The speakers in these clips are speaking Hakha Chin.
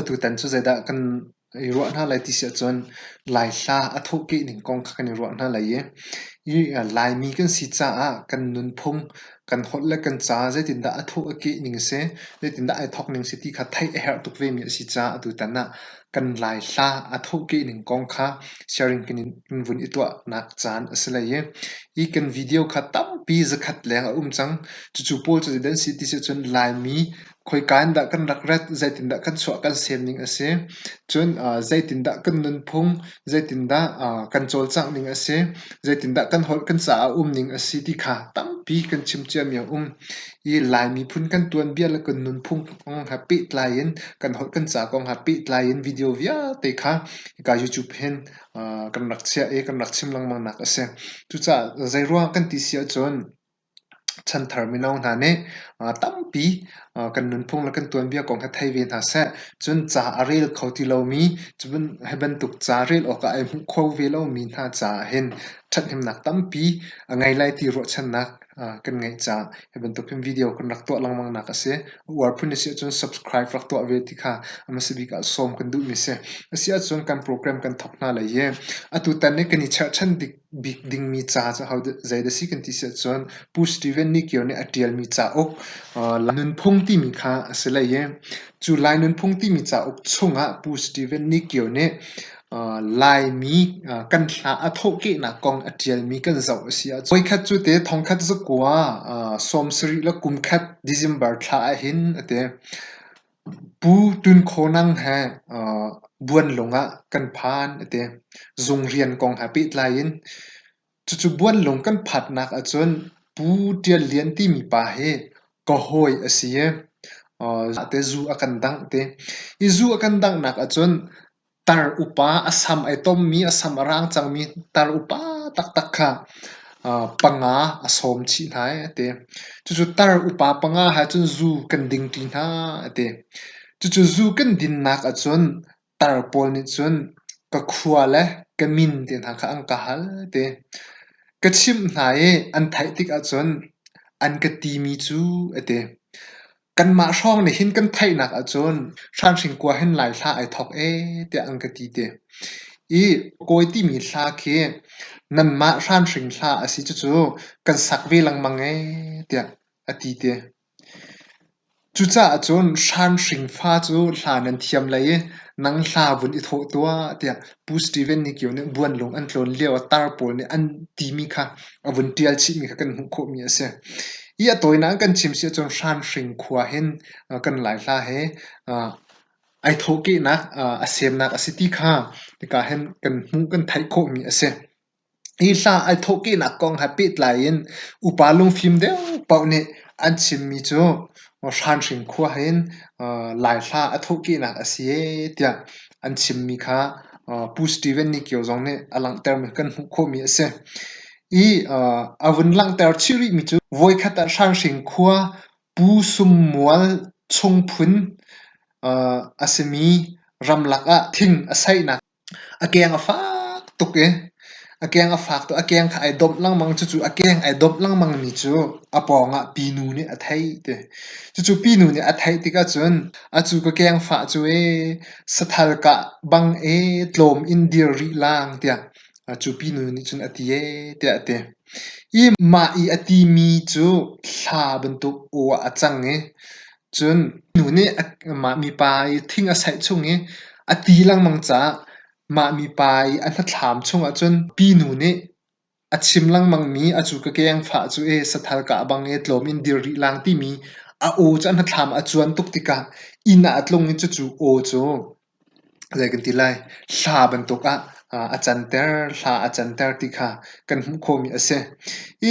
Atutan cu zeidah kan i ruah hna lai ti si ahcun Laihla a thawhkeh ning kong kha kan i ruah hna lai i Laimi kan si caah kan nunphung kan holh le kan ca zeitindah a thuk a keh ning a si, zeitindah ai thawk ning a si ti kha theih a herh tuk vemi a si caah atutan ah kan laihla a thuk keh ning kong kha sharing kan in vun i tuahnak caan a si lai i, hi kan video kha tampi zakhat leng a um cang. Cucu pawl cu zeidah an si ti sih cun Laimi khoika in dah kan rak rat, zeitindah kan chuah kan sianning a si. Cun zeitindah kan nunphung, zeitindah kan cawlcangh ning a si, zeitindah kan holh kan caah um ning a si ti kha tampi kan chim ciami a um. I Lai miphun kan tuanbia le kan nunphung kong he pehtlai in kan holh kan ca kong he pehtlai in video vialte kha hika YouTube hin kan rak chiah i kan rak chim lengmangnak a si. Cucaah zeiruang kan ti si ahcun Chanthar mino hna nih tampi kan nunphung le kan tuanbia kong hi thei ve hna seh. Cun ca a rel kho ti lomi, hi bantuk ca rel awkah ai hmuh kho ve lomi hna caah hin ṭhathnemnak tampi a ngei lai ti ruahchannak kan ngeih caah hi bantuk hin video kan rak tuah lengmangnak a si. A uar phun a si ahcun subscribe rak tuah ve ti kha a hmasa bik ah sawm kan duhmi a si. A si ahcun kan program kan thawk hna lai i atu tan i kan i cherhchan dik bik dingmi ca cu zeidah a si kan ti si ahcun Pu Steven Nikior nih a ṭialmi cauk Lai Nunphung timi kha a si hlei i cu Lai Nunphung timi cauk chungah Pu Steven Nikior nih Laimi kan hla a thawhkehnak kong a ṭialmi kan zoh a si ahcun voikhat cu te thongkhat zakua sawm sarih le kumkhat December thla ahhin a ti. Pu Tun Kho Nang he buanlung ah kan phan a ti. Zung rian kong he pehtlai in cucu buanlung kan phatnak ahcun Pu Ṭial Lian timi pa hi ka hawi a si i zate zu a kan dangh a ti. Hi zu a kan danghnak ahcun Tar upa a sam ai tommi, a sam a rang cangmi tar upa taktak kha panga a sawm chih hna i a ti. Cucu tar upa panga he cun zu kan dingṭi hna a ti. Cucu zu kan dinnak ahcun tar pawl nih cun ka khua le ka min te hna kha an ka hal a ti. Ka chimh hna i an theih tik ahcun an ka timi cu a ti. Kanmah hrawng nih hin kan theihnak ahcun hranhring kua hin Lai hla ai thawk ee tiah an ka ti ti. I kawi timi hla khi nanmah hranhring hla a si cucu kan sak ve lengmang ee tiah a ti ti. Cucaah cun hranhring fa cu hla nan thiam lei i nang hla vun i thawh tuah tiah Pu Steven nih kio nih buanlung an tlawn lio ah tar pawl nih an timi kha a vun ṭial chihmi kha kan hmuh khawhmi a si. I a tawinak in kan chim si ahcun Hranhring khua hin kan Laihla he ai thawhkehnak a semnak a si ti kha hika hin kan hmuh kan theih khawhmi a si. Hi hla ai thawhkehnak kong he pehtlai in upa lungfim deuh paoh nih an chimmi cu Hranhring khua ah hin Laihla a thawhkehnak a si ee tiah an chimmi kha Pu Steven Nikio zong nih a langhtermi kan hmuh khawhmi a si. I a vun langhter chih rihmi cu voikhat ah Hranhring khua Pu Sum Mual chung phun a simi ramlak ah thing a saihnak A keng a fak tuk i a keng a fak tuk. A keng kha ai domh lengmang. Cucu a keng ai domh lengmang mi cu a pawngah pinu nih a theih ti. Cucu pinu nih a theih tikah cun a cu ka keng fah cu ee sathal kah bang ee tlawm in dir rih lang tiah cu pinu nih cun a ti ee tiah a ti. I mah i a ti mi cu thla bantuk aw ah a cang i Cun nu nih mah mipa i thing a saih chung i a ti lengmang caah mah mipa i a hnathlam chungah cun pinu nih a chim lengmangmi a cu ka kengfah cu ee sathal ka a bang ee tlawm in dir rih lang timi a aw cu a hnathlam a cuan tuk tikah inn ah a tlung i cucu aw cu. Zei kan ti lai? Hla bantuk ah a canter, hla a canter ti kha kan hmuh khawhmi a si.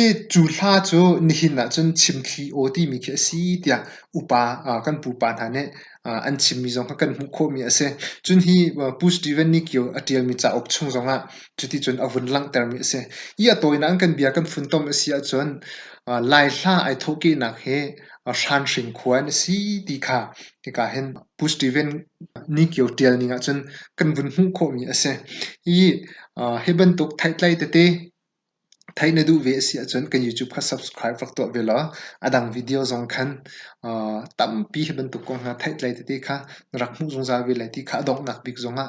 I cu hla cu nihin ahcun chimthli aw timi khi a si tiah upa kan pupa hna nih an chimmi zong kha kan hmuh khawhmi a si. Cun hi Pu Steven Nicchio a ṭialmi cauk chung zong ah cuticun a vun langhtermi a si. I a tawinak in kan bia kan funtom a si ahcun Lai hla ai thawhkehnak hi a hranhring khua an si ti kha hika hin Pu Steven Nikio tial ning ahcun kan vun hmuh khawhmi a si. Hi hi bantuk theihtlei tete theih na duh ve a si ahcun kan YouTube kha subscribe rak tuah ve law a dang video zong khan tampi hi bantuk kong hna theihtlei tete kha na rak hmuh zungzal ve lai ti kha a donghnak bik zongah